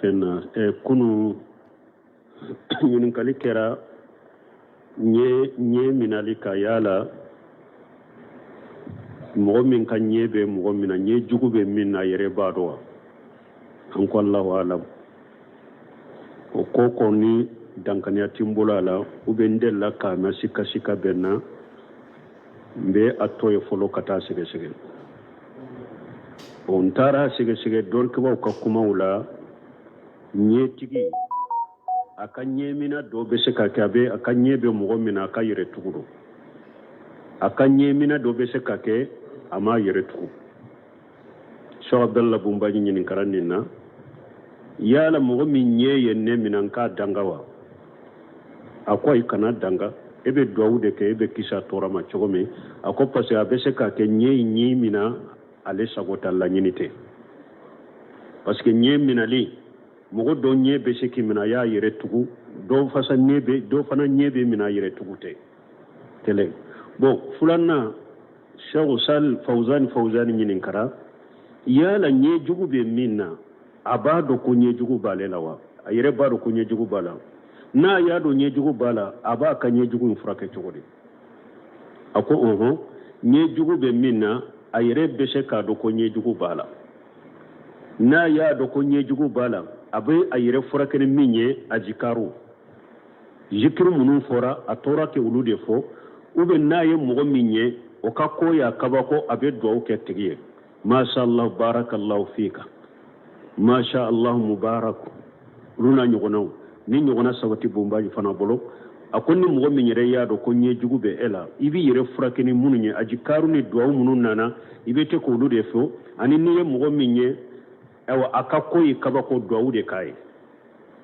fɛn na e kunu ɲininkali kɛra ɲɛ ɲɛ minali kan yala mɔgɔ min ka ɲɛ bɛ mɔgɔ mina ɲɛ jugu bɛ min na yɛrɛ b'a dɔn wa an ko alahu alam o ko kɔni dankaniya ti n bolo a la ou bien n delila k'a mɛn sikasika bɛ n na n bɛ a to yen fɔlɔ ka taa sɛgɛsɛgɛ n taara a sɛgɛsɛgɛ dɔnnikɛbaw ka kumaw la ɲɛtigi a ka ɲɛmina dɔ bɛ se ka kɛ a bɛ a ka ɲɛ bɛ mɔgɔ mina a ka yɛrɛ tugu don a ka ɲɛmina dɔ bɛ se ka kɛ a m'a yɛrɛ tugu shehu abdalla bonbaji ɲininkara nin na yala mɔgɔ min ɲɛ ye ne mina n k'a danga wa a ko ayi kana danga e bɛ duwawu de kɛ e bɛ kisi a tɔɔrɔ ma cogo min a ko parce que a bɛ se ka kɛ ɲɛ in ɲɛ mina ale sago t'a laɲini tɛ parce que ɲɛ minali mɔgɔ dɔ ɲɛ bɛ se k'i mina a y'a yɛrɛ tugu dɔw fana ɲɛ bɛ dɔw fana ɲɛ bɛ mina a yɛrɛ tugu tɛ kelen bon filanan shehu sal fauzani fauzani ɲininkara yala ɲɛ jugu bɛ min na a b'a dɔn ko ɲɛ jugu b'ale la wa a yɛrɛ b'a dɔn ko ɲɛ jugu b'a la n'a y'a dɔn ɲɛ jugu b'a la a b'a ka ɲɛ jugu in furakɛ cogo di a ko ɔhɔn ɲɛ jugu bɛ min na a yɛrɛ bɛ se k'a dɔn ko ɲɛ jugu b'a la n'a y'a dɔn ko ɲɛ jugu b'a la a bɛ a yɛrɛ furakɛ ni min ye ajikaru zikiri minnu fɔra a tora k'olu de fɔ ou bien n'a ye mɔgɔ min ye o ka ko y'a kabako a bɛ dugawu kɛ tigi ye masha allah barakallahu fika masha allah mubarak olu n'a ɲɔgɔnnaw nin ɲɔgɔnna sabati bonbaji fana bolo a ko ni mɔgɔ min yɛrɛ y'a dɔn ko ɲɛ jugu bɛ e la i b'i yɛrɛ furakɛ ni minnu ye ajikaru ni dugawu minnu nana i bɛ to k'olu de fɔ ani n'i ye mɔgɔ min ye ayiwa a ka ko y'i kabako duwawu de k'a ye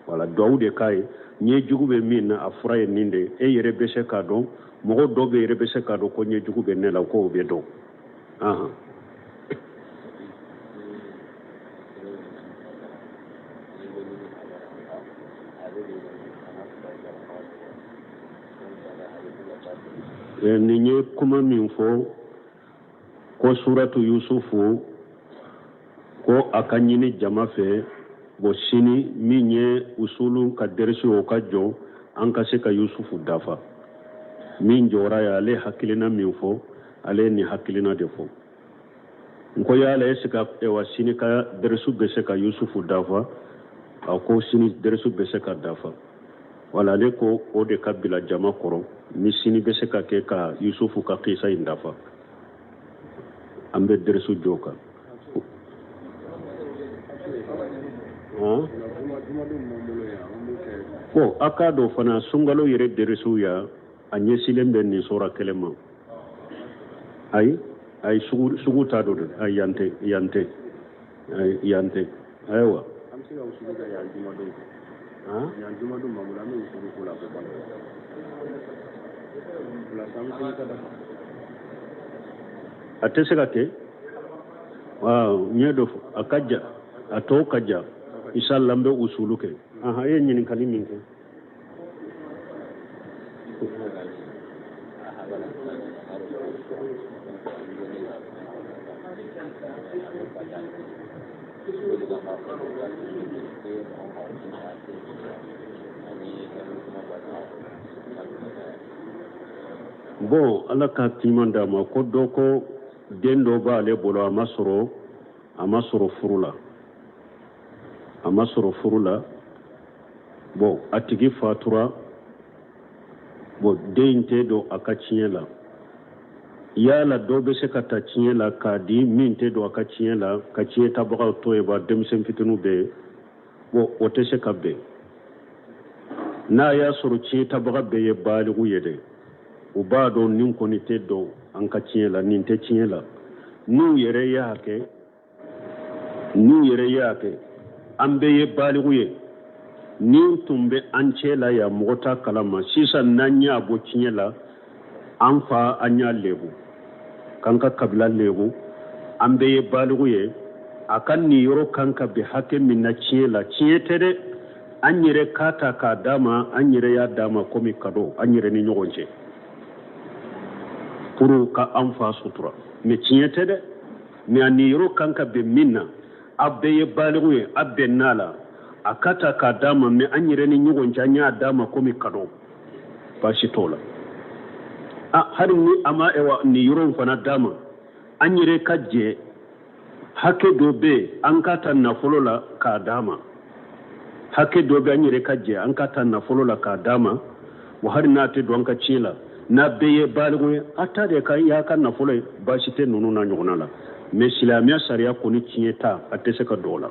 wala duwawu de k'a ye ɲɛ jugu bɛ min na a fura ye nin de ye e yɛrɛ bɛ se k'a dɔn mɔgɔ dɔw bɛ yɛrɛ bɛ se k'a dɔn ko ɲɛ jugu bɛ ne la k'o bɛ dɔn ahan nin ye kuma min fɔ ko suratu yusufu ko a k'a ɲini jama fɛ bon sini min ye usulu ka deresi o ka jɔ an ka se ka yusufu dafa min jɔra ye ale ye hakilina min fɔ ale ye nin hakilina de fɔ n ko yala est-ce que sini ka deresi bɛ se ka yusufu dafa a ko sini deresi bɛ se ka dafa wala ale ko o de ka bila jama kɔrɔ ni sini bɛ se ka kɛ ka yusufu ka kisa in dafa an bɛ dɛrɛsu jɔ kan ko a k'a dɔn fana sunkalo yɛrɛ dɛrɛsuw ya a ɲɛsilen bɛ nin sura kelen ma ayi ayi sugu t'a dɔ dɛ ayi yan tɛ yan tɛ yan tɛ ayiwa an bɛ se ka usuli kɛ yan jumadon yan jumadon ma bolo an bɛ usuli k'o la ko balo a tɛ se ka kɛ n ye dɔ fɔ a ka ja a tɔw ka ja inshallah n bɛ usulu kɛ ahan e ye ɲininkali min kɛ bon ala ka timan d'a ma ko dɔ ko den dɔ b'ale bolo a ma sɔrɔ a ma sɔrɔ furu la a ma sɔrɔ furu la bon a tigi fatura bon den in tɛ don a ka tiɲɛ la yala dɔ bɛ se ka ta tiɲɛ la k'a di min tɛ don a ka tiɲɛ la ka tiɲɛ tabagaw to yen ba denmisɛn fitiniw bɛ yen bon o tɛ se ka bɛn n'a y'a sɔrɔ tiɲɛ tabaga bɛɛ ye baaligu ye dɛ u b'a dɔn nin kɔni tɛ don an ka tiɲɛ la nin tɛ tiɲɛ la n'u yɛrɛ y'a kɛ n'u yɛrɛ ye a kɛ an bɛɛ ye baaligu ye nin tun bɛ an cɛ la yan mɔgɔ t'a kalama sisan n'an y'a bɔ tiɲɛ la an fa an y'a lebu k'an ka kabila lebu an bɛɛ ye baaligu ye a ka niyɔrɔ kan ka bɛn hakɛ min na tiɲɛ la tiɲɛ tɛ dɛ an yɛrɛ k'a ta k'a d'a ma an yɛrɛ y'a d'a ma komi kado an yɛrɛ ni ɲɔgɔn cɛ pour ka an fa sutura mɛ tiɲɛ tɛ dɛ mɛ a niyɔrɔ kan ka bɛn min na a bɛɛ ye baaligu ye a bɛnna a la a k'a ta k'a d'a ma mɛ an yɛrɛ ni ɲɔgɔn cɛ an y'a d'a ma komi kado baasi t'o la a hali ni a ma ɛwa niyɔrɔ in fana d'a ma an yɛrɛ ka jɛ hakɛ dɔ bɛ yen an k'a ta nafolo la k'a d'a ma hakɛ dɔ bɛ an yɛrɛ ka jɛ an k'a ta nafolo la k'a d'a ma wa hali n'a tɛ don an ka ciyɛn la n'a bɛɛ ye baaligu ye a ta de ka y'a ka nafolo ye baasi tɛ ninnu n'a ɲɔgɔnna la mɛ silamɛya sariya kɔni tiɲɛ ta a tɛ se ka don a la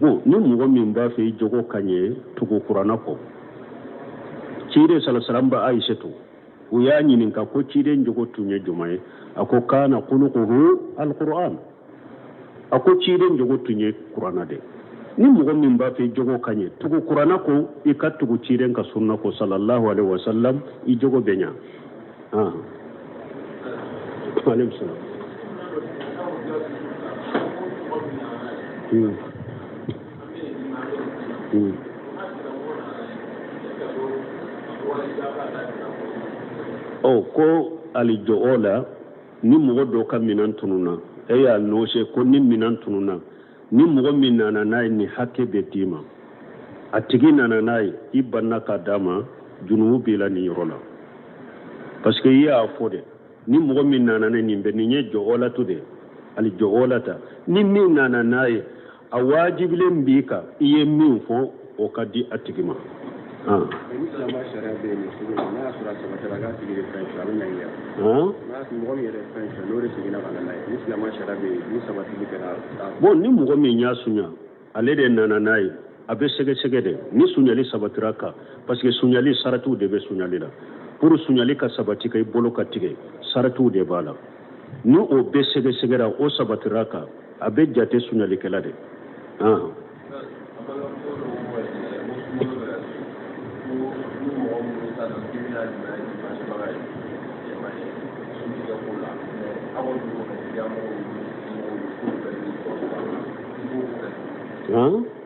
bon ni mɔgɔ min b'a fɛ i jogo ka ɲɛ tugu kuranna kɔ ciden salasalam ba aisatu u y'a ɲininka ko ciden jogo tun ye jumɛn ye a ko kana khuluquhu alquran a ko ciden jogo tun ye kuranna de ni mɔgɔ min b'a fɛ i jogo ka ɲɛ tugu kuranna kɔ i ka tugu ciden ka sunna kɔ salallahu alaihi wasallam i jogo bɛ ɲa ah aleykum salaam Hmm. Hmm. ɔ ko alju'ala ni mɔgɔ dɔ ka minɛn tununna a y'a annoncer ko ni minɛn tununna ni mɔgɔ min nana n'a ye nin hakɛ bɛ d'i ma a tigi nana n'a ye i banna k'a d'a ma junubu b'i la nin yɔrɔ la parce que i y'a fɔ dɛ ni mɔgɔ min nana ne nin bɛ nin ye ju'alatu de alju'alata ni min nana n'a ye a waajibilen b'i kan i ye min fɔ o ka di a tigi ma ah. bon ni mɔgɔ min y'a sunya ale de nana n'a ye a bɛ sɛgɛsɛgɛ dɛ ni sunyali sabatira kan parce que sunyali saratiw de bɛ sunyali la pour sunyali ka sabati ka i bolo ka tigɛ saratiw de b'a la ni o bɛɛ sɛgɛsɛgɛra o sabatira kan a bɛ jate sunyalikɛla de Huh?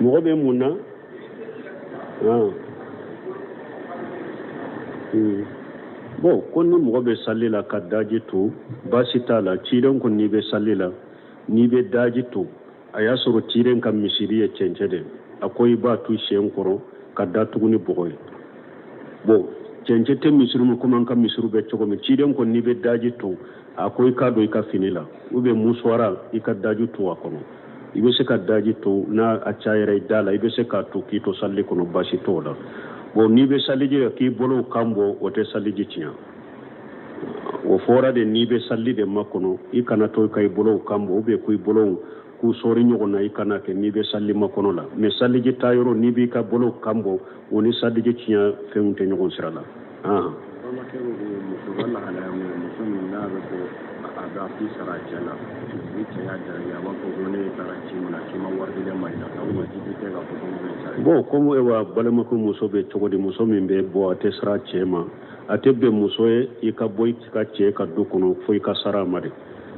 mɔgɔ bɛ mun na ah. hmm. bon ko ni mɔgɔ bɛ sali la ka daji to baasi t'a la ciren ko n'i bɛ sali la n'i bɛ daji to a y'a sɔrɔ ciren ka misiri ye cɛncɛn de a ko i b'a tu sen kɔrɔ k'a datugu ni bɔgɔ ye bon cɛncɛn tɛ misiri ma komi an ka misiriw bɛ cogo min ciren ko n'i bɛ daji to a ko i k'a don i ka fini la ou bien musuwara i ka daji to a kɔnɔ i bɛ se ka daji to n'a cayara i da la i bɛ se k'a to k'i to salili kɔnɔ basi t'o la bon n'i bɛ saliji kɛ k'i bolow kan bɔ o tɛ saliji tiɲɛ o fɔra de n'i bɛ salili de makɔnɔ i kana to ka i bolow kan bɔ ou bien ko i bolow k'u sɔɔri ɲɔgɔn na i kana kɛ n'i bɛ salili makɔnɔ la mais saliji ta yɔrɔ n'i b'i ka bolow kan bɔ o ni saliji tiɲɛ fɛnw tɛ ɲɔgɔn sira la Bon kɔmi wa balima ko muso bɛ cogo di muso min bɛ bɔ a tɛ sara cɛ ma a tɛ bɛn muso ye i ka bɔ i ka cɛ ka du kɔnɔ fo i ka sara a ma dɛ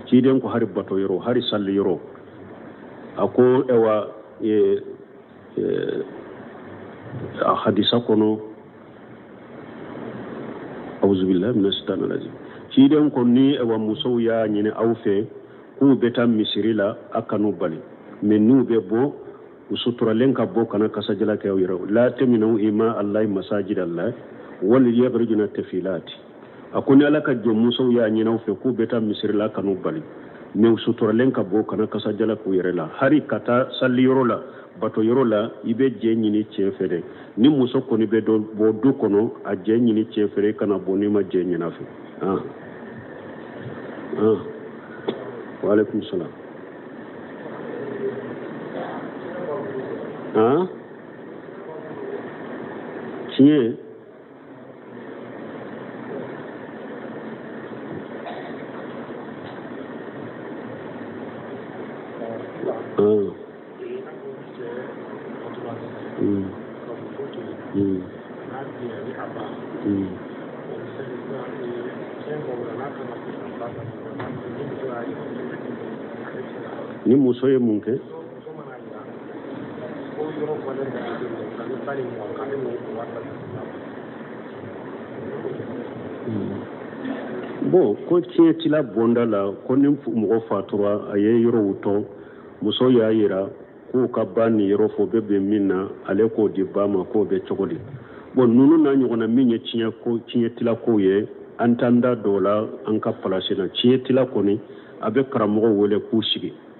ciden ko hari bato yɔrɔ hari sali yɔrɔ a ko eh, a hadisa kɔnɔ awuzubilahi mina sitani arajim ciden ko ni ni wa musow y'a ɲini aw fɛ k'u bɛ taa misiri la a kan'u bali mɛ n'u bɛ bɔ u suturalen ka bɔ kana kasa jala kɛ u yɛrɛ la tamnawu ima alahi masajida lahi wal yakhurujuna tafilati a ko ni ala ka jɔn musow y'a ɲin'aw fɛ k'u bɛ taa misirila kan'u bali mɛ u suturalen ka bɔ kana kasa jala k'u yɛrɛ la hari ka taa saliyɔrɔ la batoyɔrɔ la i bɛ jɛn ɲini cɛ fɛ dɛ ni muso kɔni bɛ dɔ bɔ du kɔnɔ a jɛn ɲini cɛ fɛ dɛ kana bɔ n'i ma jɛn ɲin'a fɛ ah. ah. waaleykum salaam ah. tiɲɛ Ah. Mm. Mm. Mm. ni muso ye mun kɛ bon ko tiɲɛ tila bonda la ko ni mɔgɔ fatura a ye yɔrɔw to muso y'a yira k'u ka ba niyɔrɔ fɔ bɛ bɛn min na ale k'o di ba ma k'o bɛ cogo di bon ninnu n'a ɲɔgɔnna min ye tiɲɛ tila kow ye an t'an da don o la an ka palasi na tiɲɛ tila kɔni a bɛ karamɔgɔw wele k'u sigi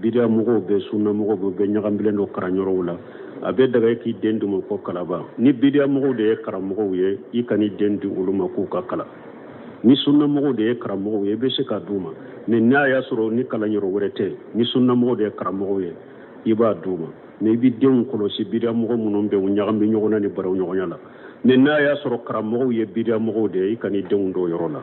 bidiya mɔgɔw bɛ sunna mɔgɔw bɛ bɛɛ ɲagambilen don karanyɔrɔw la a bɛ daga k'i den d'u ma k'o kalan ba ni bidiya mɔgɔw de ye karamɔgɔw ye i kan'i den di olu ma k'u k'a kalan ni sunnamɔgɔw de ye karamɔgɔw ye i bɛ se k'a d'u ma mɛ n'a y'a sɔrɔ ni kalan yɔrɔ wɛrɛ tɛ ni sunnamɔgɔw de ye karamɔgɔw ye i b'a d'u ma mɛ i bɛ denw kɔlɔsi bidiyamɔgɔ minnu bɛ u ɲagami ɲɔgɔn na ni baro ɲɔgɔnya la ni n'a y'a sɔrɔ karamɔgɔw ye bidiyamɔgɔw de ye i kan'i denw don o yɔrɔ la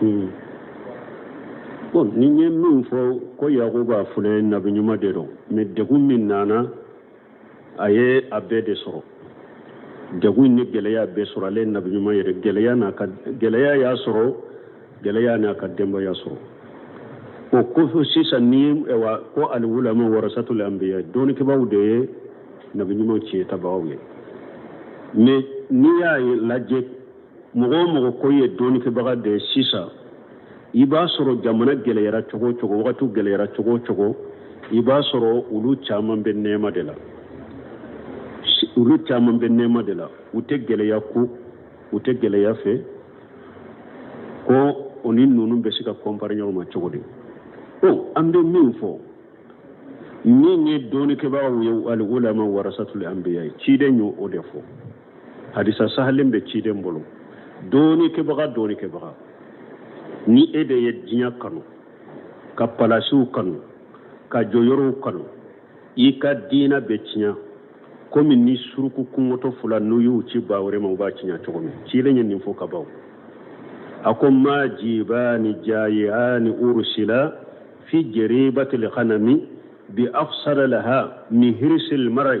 Hmm. bon ni ye min fɔ ko yakuba filɛ nabi ɲuman de don mais degun min nana a ye a bɛɛ de sɔrɔ degun ni gɛlɛya bɛɛ sɔrɔ ale nabi ɲuman yɛrɛ gɛlɛya n'a ka gɛlɛya y'a sɔrɔ gɛlɛya n'a ka denbaya sɔrɔ o kofo sisan ni ye wa ko al ulama warasatul anbiya dɔnnikɛbaaw de ye nabi ɲuman tiɲɛ tabagaw ye mais n'i y'a lajɛ mɔgɔ o mɔgɔ ko ye dɔnnikɛbaga de ye sisan i b'a sɔrɔ jamana gɛlɛyara cogo o cogo wagatiw gɛlɛyara cogo o cogo i b'a sɔrɔ olu caman bɛ nɛɛma de la olu caman bɛ nɛɛma de la u tɛ gɛlɛya kun u tɛ gɛlɛya fɛ ko o ni ninnu bɛ se ka kɔnpari ɲɔgɔn ma cogo di ko an bɛ min fɔ min ye dɔnnikɛbagaw ye al ulama warasatul anbiya ye ciden ye o de fɔ hadisa sahalen bɛ ciden bolo dɔnnikɛbaga dɔnnikɛbaga ni e de ye diɲɛ kanu ka palasiw kanu ka jɔyɔrɔw kanu i ka diina bɛ tiɲɛ komi ni suruku kɔngɔtɔ fula n'u y'u ci ba wɛrɛ ma u b'a tiɲɛ cogo min cilen ye nin fɔ ka ban a ko ma jibani jayiani ursila fi jeribatil ghanami bi afsada laha min hirsil marai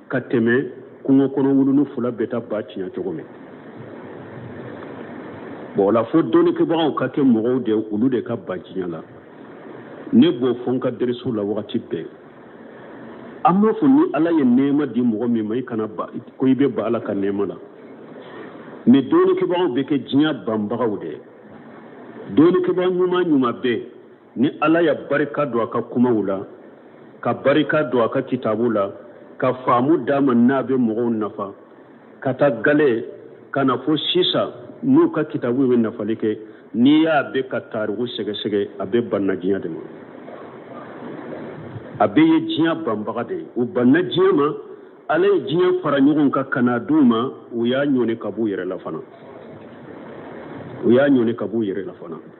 ka tɛmɛ kungo kɔnɔ wuluni fula bɛ taa ba tiɲɛ cogo min bon o la fo dɔnnikɛbagaw ka kɛ mɔgɔw de olu de ka ban diɲɛ la ne b'o fɔ n ka deriso la wagati bɛɛ an b'a fɔ ni ala ye nɛɛma di mɔgɔ min ma i kana ban ko i bɛ ban ala ka nɛɛma la mais dɔnnikɛbagaw bɛ kɛ diɲɛ banbagaw de ye dɔnnikɛbaga ɲuman ɲuman bɛɛ ni ala ye barika don a ka kumaw la ka barika don a ka kitabu la ka faamu d'a ma n'a bɛ mɔgɔw nafa k'a ta gale ka na fo sisan n'u ka kitabu bɛ nafali kɛ n'i y'a bɛɛ ka tariku sɛgɛsɛgɛ a bɛɛ banna diɲɛ de ma a bɛɛ ye diɲɛ banbaga de ye u banna diɲɛ ma ala ye diɲɛ fara ɲɔgɔn kan ka n'a d'u ma u y'a ɲɔni ka b'u yɛrɛ la fana u y'a ɲɔni ka b'u yɛrɛ la fana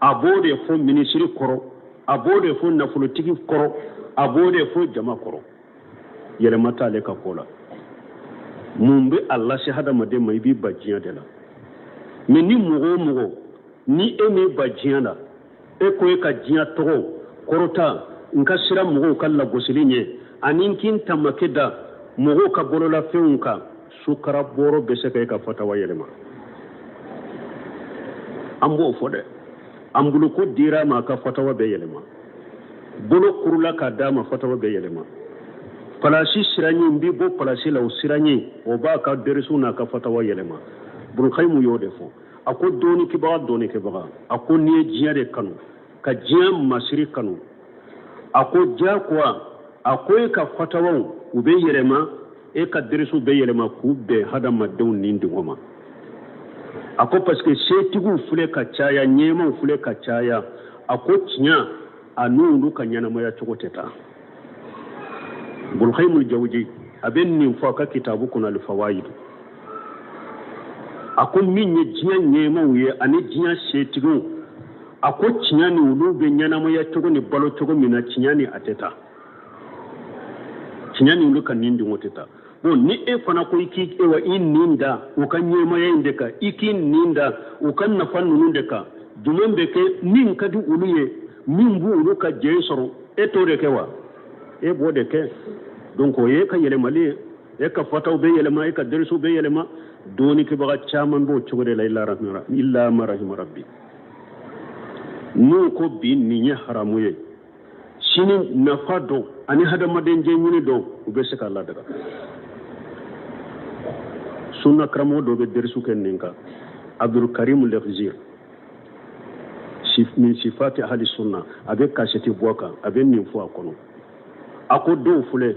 a b'o de fɔ minisiri kɔrɔ a b'o de fɔ nafolotigi kɔrɔ a b'o de fɔ jama kɔrɔ yɛlɛma t'ale ka ko la mun bɛ a lase hadamaden ma i b'i ban diɲɛ de la mais ni mɔgɔ o mɔgɔ ni e m'i ban diɲɛ la e ko e ka diɲɛ tɔgɔ kɔrɔta n ka siran mɔgɔw ka lagosili ɲɛ ani n k'i n tamake da mɔgɔw ka bololafɛnw kan sukara bɔrɔ bɛ se ka e ka fatawa yɛlɛma an b'o fɔ dɛ anbulɔku dira a ma a ka fatawa bɛ yɛlɛma bolo kurula k'a d'a ma fatawa bɛ yɛlɛma palasi siranɲɛ n b'i bɔ palasi la o siranɲɛ o b'a ka derisu n'a ka fatawa yɛlɛma ibnul kayimu y'o de fɔ a ko dɔnnikɛbaga dɔnnikɛbaga a ko n'i ye diɲɛ de kanu ka diɲɛ masiri kanu a ko diyakoya a ko e ka fatawaw u bɛ yɛlɛma e ka derisuw bɛ yɛlɛma k'u bɛn hadamadenw ni dingɔ ma a ko parce que setigiw filɛ ka caya ɲɛmaaw filɛ ka caya a ko tiɲɛ a n'olu ka ɲɛnamaya cogo tɛ taa ibnul kayimul jawuji a bɛ nin fɔ a ka kitabu kɔnɔ alifawayidu a ko min ye diɲɛ ɲɛmaaw ye ani diɲɛ setigiw a ko tiɲɛ ni olu bɛ ɲɛnamaya cogo ni balo cogo min na tiɲɛ ni a tɛ taa tiɲɛ ni olu ka ni dungɔ tɛ taa bon ni e fana ko i k'i ewa i nin da u ka ɲɛmaaya in de kan i k'i nin da u ka nafa ninnu de kan jumɛn bɛ kɛ min ka di olu ye min bɛ olu ka jɛn sɔrɔ e t'o de kɛ wa e b'o de kɛ donc o ye e ka yɛlɛmali ye e ka fatawa bɛ yɛlɛma e ka derisuw bɛ yɛlɛma dɔnnikɛbaga caman b'o cogo de la ila ma rahima rabbi n'u ko bi nin ye haramu ye sini nafa don ani hadamaden jɛnɲini don u bɛ se k'a ladaga sunna karamɔgɔ dɔ bɛ derisu kɛ nin kan abdulkarim lefzir min sifati ahli sunna a bɛ kasɛti bɔ a kan a bɛ nin fɔ a kɔnɔ a ko dɔw filɛ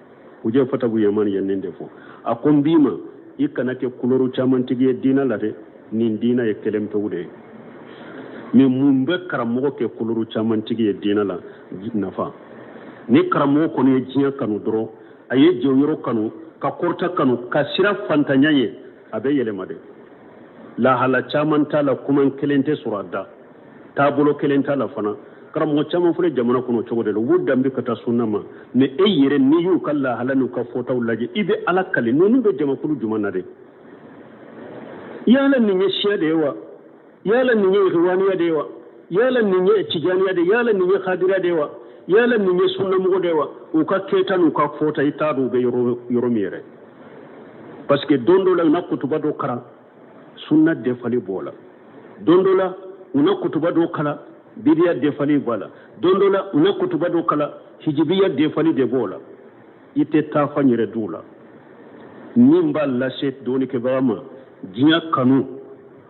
hujefata bun yaman ye nin de fɔ a ko n b'i ma i kana kɛ kulɛri caman tigi ye diina la dɛ nin diina ye kelen pewu de ye mɛ mun bɛ karamɔgɔ kɛ kulɛri caman tigi ye diina la nafa ni karamɔgɔ kɔni ye diɲɛ kanu dɔrɔn a ye jɔyɔrɔ kanu ka kɔrɔta kanu ka siran fantanya ye a bɛ yɛlɛma dɛ lahala caman t'a la kuma kelen tɛ sɔrɔ a da taabolo kelen t'a la fana karamɔgɔ caman filɛ jamana kɔnɔ cogo de la u b'u danbi ka taa sunna ma mɛ e yɛrɛ n'i y'u ka lahala n'u ka fɔtaw lajɛ i bɛ ala kali ninnu bɛ jamakulu jumɛn na de yala nin ye siya de ye wa yala nin ye ihwaniya de ye wa yala nin ye tijaniya de yala nin ye kadiriya de wa yala nin ye sunnamɔgɔ de wa u ka kɛta n'u ka fɔta i t'a dɔn u bɛ yɔrɔ min yɛrɛ parce que don dɔ la u na kutuba dɔ karan sunna defali b'o la don dɔ la u na kutuba dɔ kalan bidiya defali b'a la don dɔ la u na kutuba dɔ kalan hijibiya defali de b'o la i t'a taafan yɛrɛ dɔn o la min b'a lase dɔnnikɛbaga ma diɲɛ kanu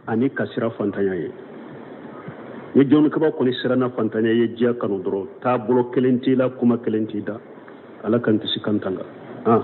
ani ka siran fantanya ye ni dɔnnikɛbaga kɔni siranna fantanya ye diɲɛ kanu dɔrɔn taabolo kelen t'i la kuma kelen t'i da ala k'an kisi k'an tanga ah.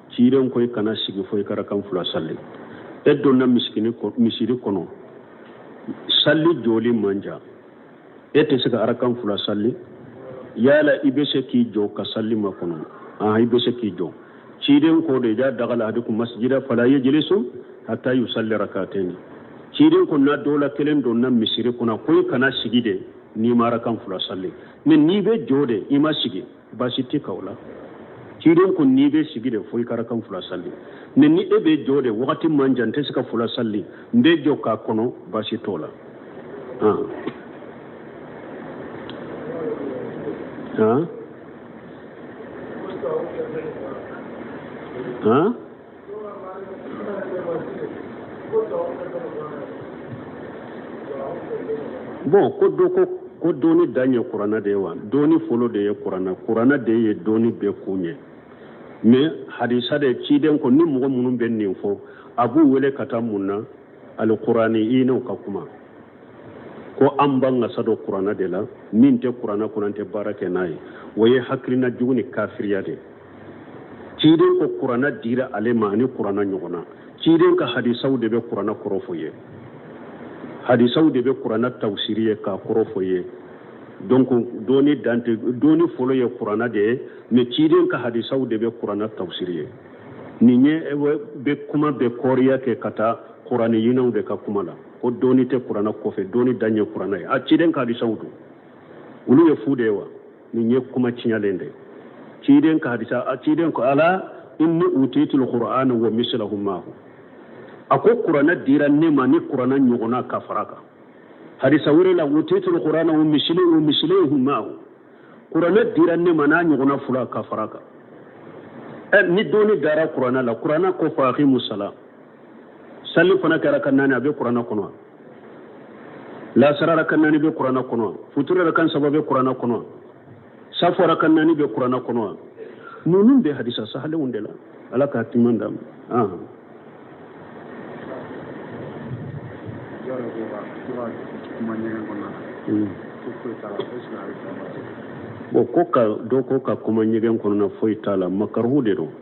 ciden ko i kana sigi fo i ka arakan fula salli e donna misiri kɔnɔ salli jɔli man jan e tɛ se ka arakan fula salli yala i bɛ se k'i jɔ ka salli makɔnɔ ah i bɛ se k'i jɔ ciden ko de iza dakhala ahadukum masjida fala yajlisu hatta yusalli rak'atayn ciden ko n'aw dɔ la kelen donna misiri kɔnɔ ko i kana sigi de n'i ma arakan fula salli mais n'i bɛ jɔ de i ma sigi baasi t'i kan o la ciden ko n'i bɛ sigi de fo i ka arakan fula salli mais ni e bɛ jɔ de wagati man jan n tɛ se ka fula salli n bɛ jɔ k'a kɔnɔ baasi t'o la Bon ko do ko ko dɔnni dan ye kuranɛ de ye wa dɔnni fɔlɔ de ye kuranɛ kuranɛ de ye dɔnni bɛɛ kun ye mais hadisa de ciden ko ni mɔgɔ minnu bɛ nin fɔ a b'u wele ka taa mun na al kuraniyinaw ka kuma ko an b'an wasa don kuranɛ de la min tɛ kuranɛ kɔnɔ an tɛ baara kɛ n'a ye o ye hakilina jugu ni kafiriya de ye ciden ko kurana dira ale ma ani kurana ɲɔgɔnna ciden ka hadisaw de bɛ kurana kɔrɔ fɔ ye hadisaw de bɛ kurana tawusiri ye k'a kɔrɔ fɔ ye donc dɔnni dan tɛ dɔnni fɔlɔ ye kurana de ye mais ciden ka hadisaw de bɛ kurana tawusiri ye nin ye bɛ kuma bɛ kɔɔriya kɛ ka taa kuraniyinaw de ka kuma la ko dɔnni tɛ kurana kɔfɛ dɔnni dan ye kurana ye a ciden ka hadisaw dun olu ye fu de ye wa nin ye kuma tiɲɛlen de ciden ka hadisa ciden ko ala inni utitul qur'ana wa mislahu ma'ahu a ko kuranɛ dira ne ma ni kuranɛ ɲɔgɔnna ka fara kan hadisa wɛrɛ la utitul qur'ana wa mislahu mislahu ma'ahu kuranɛ dira ne ma n'a ɲɔgɔnna fula ka fara kan ni dɔnni dara kuranɛ la kuranɛ ko fa aqimu salat sallifana kɛ arakan naani a bɛ kurana kɔnɔ wa lasara arakan naani bɛ kurana kɔnɔ wa futuri arakan saba bɛ kurana kɔnɔ saafo arakan naani bɛ kurana kɔnɔ wa ninnu bɛ hadisa sahalenw de la ala k'a timan d'a ma bon ko ka dɔ ko ka kuma ɲɛgɛn kɔnɔna foyi t'a la makaruhu de don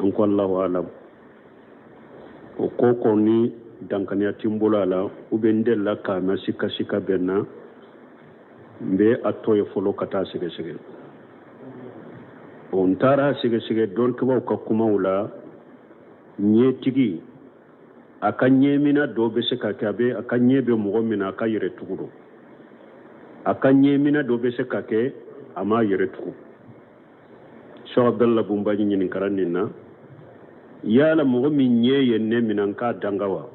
an ko allahu alam o ko kɔni dankaniya tɛ n bolo a la u bɛ n delila k'a mɛn sika sika bɛn na n bɛ a to yen fɔlɔ ka taa sɛgɛsɛgɛ o n taara sɛgɛsɛgɛ dɔnnikɛbaaw ka kumaw la ɲɛtigi a ka ɲɛmina dɔ bɛ se ka kɛ a bɛ a ka ɲɛ bɛ mɔgɔ min na a ka yɛrɛ tugu don a ka ɲɛmina dɔ bɛ se ka kɛ a m'a yɛrɛ tugu shehu abdalla bonbaji ɲininkara nin na yala mɔgɔ min ɲɛ ye ne mina n k'a danga wa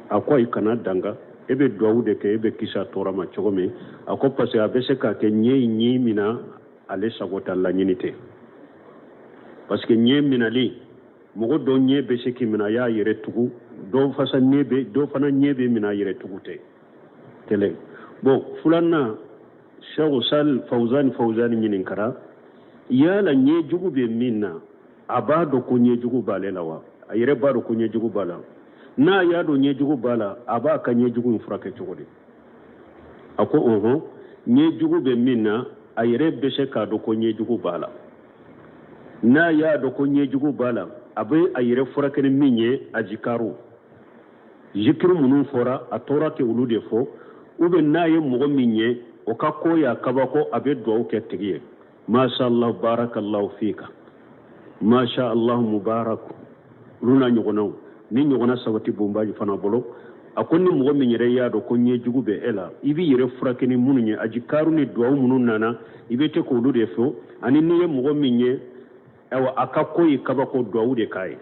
a ko i kana danga e bɛ duwawu de kɛ e bɛ kisi a tɔɔrɔ ma cogo min a ko parce que a bɛ se ka kɛ ɲɛ in y'e mina ale sago t'a laɲini tɛ parce que ɲɛ minali mɔgɔ dɔ ɲɛ bɛ se k'i minɛ a y'a yɛrɛ tugu dɔ fana ɲɛ b'i minɛ a yɛrɛ tugu tɛ kelen bon filanan shehu sal fauzani fauzani ɲininkara yala ɲɛjugu bɛ min na a b'a dɔn ko ɲɛjugu b'ale la wa a yɛrɛ b'a dɔn ko ɲɛjugu b'a la n'a y'a dɔn ɲɛjugu b'a la a b'a ka ɲɛjugu in furakɛ cogo di a ko ɔhɔn ɲɛjugu bɛ min na a yɛrɛ bɛ se k'a dɔn ko ɲɛjugu b'a la n'a y'a dɔn ko ɲɛjugu b'a la a bɛ a yɛrɛ furakɛ ni min ye ajikaru zikiri minnu fɔra a tɔɔrɔ tɛ olu de fɔ ou bien n'a ye mɔgɔ min ye o ka ko y'a kabako a bɛ duwawu kɛ tigi ye masha allah barakallahu fika masha allah mubarak olu n'a ɲɔgɔnnaw nin ɲɔgɔnna sabati bonbaji fana bolo a ko ni mɔgɔ min yɛrɛ y'a dɔn ko ɲɛjugu bɛ e la i b'i yɛrɛ furakɛ ni minnu ye ajikaru ni duwawu minnu nana i bɛ tɛ k'olu de fɔ ani n'i ye mɔgɔ min ye a ka ko y'i kabako duwawu de k'a ye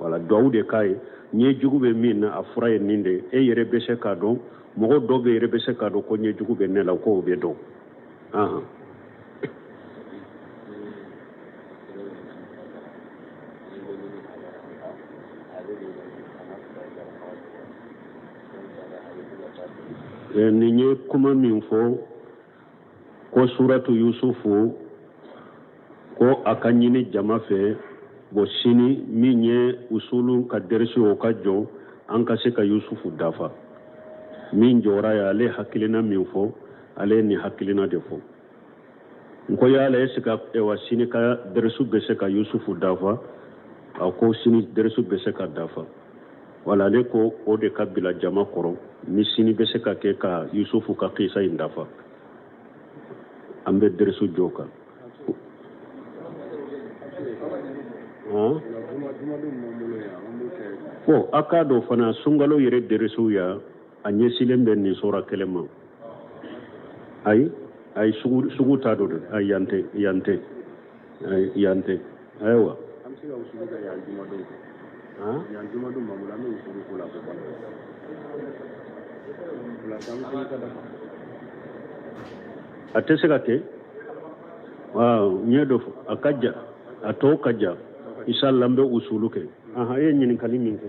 wala duwawu de k'a ye ɲɛjugu bɛ min na a fura ye nin de e yɛrɛ bɛ se k'a dɔn mɔgɔ dɔw bɛ yɛrɛ bɛ se k'a dɔn ko ɲɛjugu bɛ ne la k'o bɛ dɔn ahan nin ye kuma min fɔ ko suratu yusufu ko a ka ɲini jama fɛ bon sini min ye usulu ka deresi o ka jɔ an ka se ka yusufu dafa min jɔra ye ale hakilina min fɔ ale ye nin hakilina de fɔ n ko yala est-ce que wa sini ka deresi bɛ se ka yusufu dafa a ko sini deresi bɛ se ka dafa wala ale ko o de ka bila jama kɔrɔ ni sini bɛ se ka kɛ ka yusufu ka kisa in dafa an bɛ deresu jɔ kan bon a k'a dɔn fana sunkalo yɛrɛ deresuw yan a ɲɛsilen bɛ nin sura kelen ma ayi ayi sugu t'a don dɛ ayi yan tɛ yan tɛ ayi yan tɛ ayiwa an bɛ se ka o sugu kɛ yan jumadon yan jumadon mamuru an bɛ o sugu ko la ko ban a tɛ se ka kɛ n ye dɔ fɔ a ka jan a tɔ ka jan inshallah an bɛ usulu kɛ ahan e ye ɲininkali min kɛ